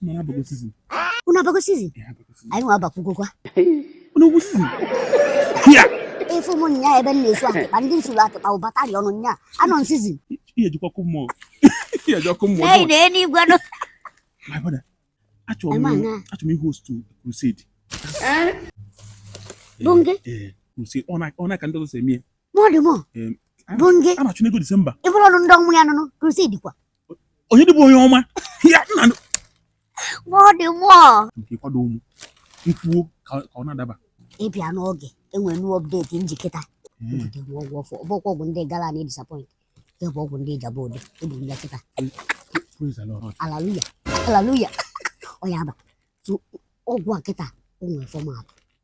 Mana abago season. Unu abago season? Anyị nwa abakwugokwa. Unu nwe season? Ya! Ị fụ mụ nya ebe m na-esu atịkpa ndị m suru atịkpa ụbatari ọnụ nya anọ na season. Ihe jikwa kụ mmụọ. Ihe jikwa kụ mmụọ. Ee, na enigwe nọ. My brother, achọrọ m achọrọ m ị-host crusade. Bunge? Ee, crusade. Ọ ka ndị ọzọ si eme ya. Mọdụ mọ. Bunge? A na-achụ n'ego Disemba. I buru ọnụ ndị ọnwụ ya nụnụ crusade kwa. onye dịbụ onye ọma ya nna m bọọdụ mụọ nke kwado ụmụ nkwuo ka ka ọ na-adaba ịbịa n'oge e nwere new update m ji kịta ebute m ọgwụ ọfụ ọ bụkwa ọgwụ ndị gara na disappoint nke a bụ ọgwụ ndị Ijebu Ode ebu m ya kịta Praise the Lord. Hallelujah Hallelujah ọ ya ba Tu- ọgwụ a kịta o nwere format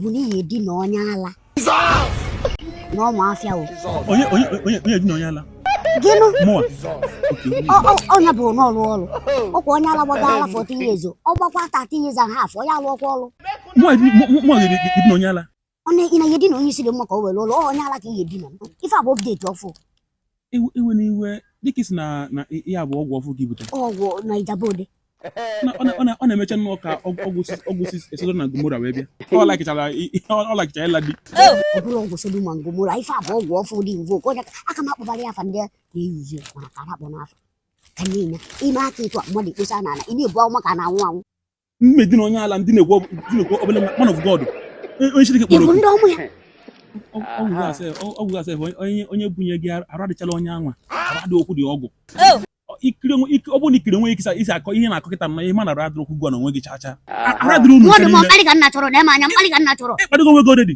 bụ na ị ye-edina onye ala na ọmụ afịa o onye onye onye onye dina onye ala gịnị mụa ọ nya bụ na ọ rụ ọrụ ọkwa onye ala gbago ala 14 years ọ gbakwa 13 years and half ọ ya-alụọkwa ọrụ mụa di mụa di dina onye ala ọ na ị na ị ye-edina onye isi dị mma ka o were lụọ onye ala ka ị ye-edina ife a bụ update ọfụ iwe na iwe dịka ị sị na na ihe a bụ ọgwụ ọfụ ka i bute ọgwụ na Ijebu Ode ọ na-emecha nnọọ ka ọgwụ si si Sodom na Gomora wee bịa ọ lakịchara ịla di ọ bụrụ ọgwụ Sodom na Gomora ife a bụ ọgwụ ọfụ dị mvo ka ọja aka m akpọbara ya afa ndị na-eyuzi mana ka akpọna afa ka niile i me aka etu mmadụ ekposa n'ala ị na-ebu ahụ maka na anwụ anwụ mụ edina onye ala ndị na-ekwu obele man of God onye Chineke kpọrọ ndị ọmụ ya ọgwụ gasị onye bunye gị arụ adịcharọ onye anwa arụ adịrọkwu ọgwụ ọ bụrụ na i kiri onwe gị ka i si akọ ihe ị na-akọ kịta mma ihe ma na arụ adịrọkwu gịwa na onwe gị chacha arụ adịrọ unu ị kparịgo onwe gị odedi